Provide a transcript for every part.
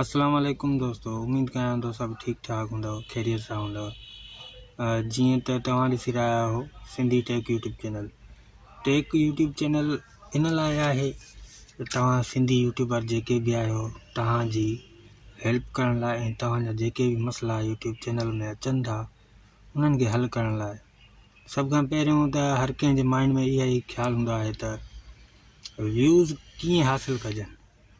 اسلام عليڪم دوستو اميد ڪيان ٿو سڀ ٺيڪ ٺاڪ هوندو خيريت سان هوندو جيئن ته توهان ڏسي رهيا آهو Sindhi tech YouTube channel tech YouTube channel ان لاء آهي ته توهان سنڌي يوٽيوبر جيڪي به آهيو توهان جي هيلپ ڪرڻ لاء ۽ توهان جا جيڪي به مسئلا يوٽيوب چينل ۾ اچن ٿا انهن کي حل ڪرڻ لاء سڀ کان پهريون ته هر ڪنهن جي مائنڊ ۾ اها ئي خيال هوندو آهي ته ويوز ڪيئن حاصل ڪجن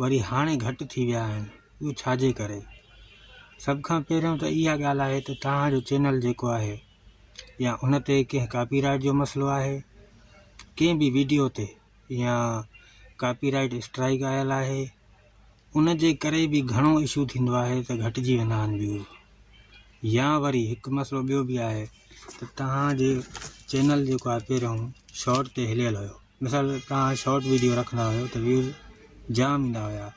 وري هاڻي گهٽ ٿي ويا آهن اهو ڇاجي ڪري سڀ کان پهريون ته اها ڳالهه آهي ته توهان جو چينل جيڪو آهي يا ان تي ڪنهن ڪاپي رائيٽ جو مسئلو آهي ڪنهن به ويڊيو تي يا ڪاپي رائيٽ اسٽرائيڪ آيل آهي ان جي ڪري به گهڻو اشو ٿيندو آهي ته گهٽجي ويندا آهن ويوز يا وري هڪ مسئلو ٻيو به آهي ته توهان جي چينل جيڪو آهي پهريون شارٽ تي هليل هيو مثال توهان شارٽ وڊيو رکندا هيو ته ويوز جام ايندا هيا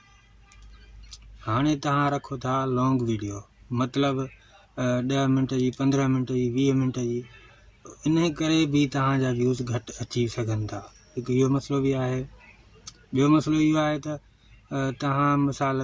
هاڻي توهان رکو ٿا لانگ ويڊيو مطلب ڏهه منٽ جي پندرهن منٽ جي ويهه منٽ جي ان ڪري به توهانجا ويوز گهٽ اچي سگهن ٿا هڪ اهو مسئلو به آهي ٻيو مسئلو اهو آهي ته توهان مثال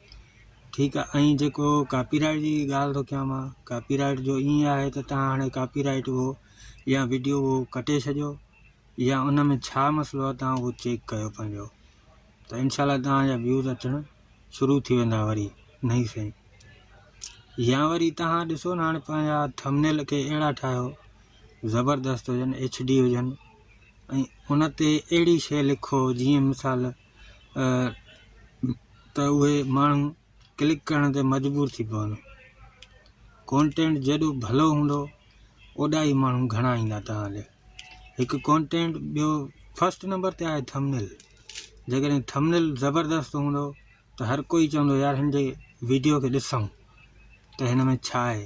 ٺيڪ آ ۽ جيڪو ڪاپي رائيٽ جي ڳالهه ٿو ڪيان مان ڪاپي رائيٽ جو ائين آهي ته تان هاڻي ڪاپي رائيٽ هو يا وڊيو هو ڪٽي ڇڏيو يا ان ۾ ڇا مسئلو آهي تان هو چيڪ ڪيو پنهنجو ته انشاء الله تان جا ويوز اچڻ شروع ٿي ويندا وري نئي سين يا وري تان ڏسو نه هاڻي پنهنجا ٿمنيل کي اهڙا ٺاهيو زبردست هجن ايڇ ڊي هجن ۽ ان تي اهڙي شيء لکو جيئن مثال ته اهي ماڻهو ڪلڪ ڪرڻ تي مجبور ٿي پون ڪونٽينٽ جيڏو ڀلو هوندو اوڏا ئي ماڻهو گهڻا ايندا توهان ڏي هڪ ڪونٽينٽ ٻيو فسٽ نمبر تي آهي ٿمنيل جيڪڏهن ٿمنيل زبردست هوندو ته هر ڪوئي چوندو يار هن جي ويڊيو کي ڏسون ته هن ۾ ڇا آهي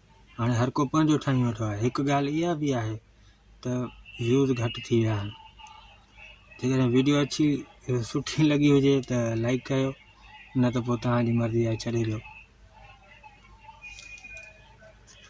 هاڻي هر ڪو پنهنجو ٺاهي ويٺو آهي هڪ ڳالهه اها بي آهي ته ويوز گهٽ ٿي ويا آهن جيڪڏهن ويڊيو اڇي سٺي لڳي هجي ته لائڪ ڪيو نه ته پوء توهان جي مرضي آهي ڇڏي ڏيو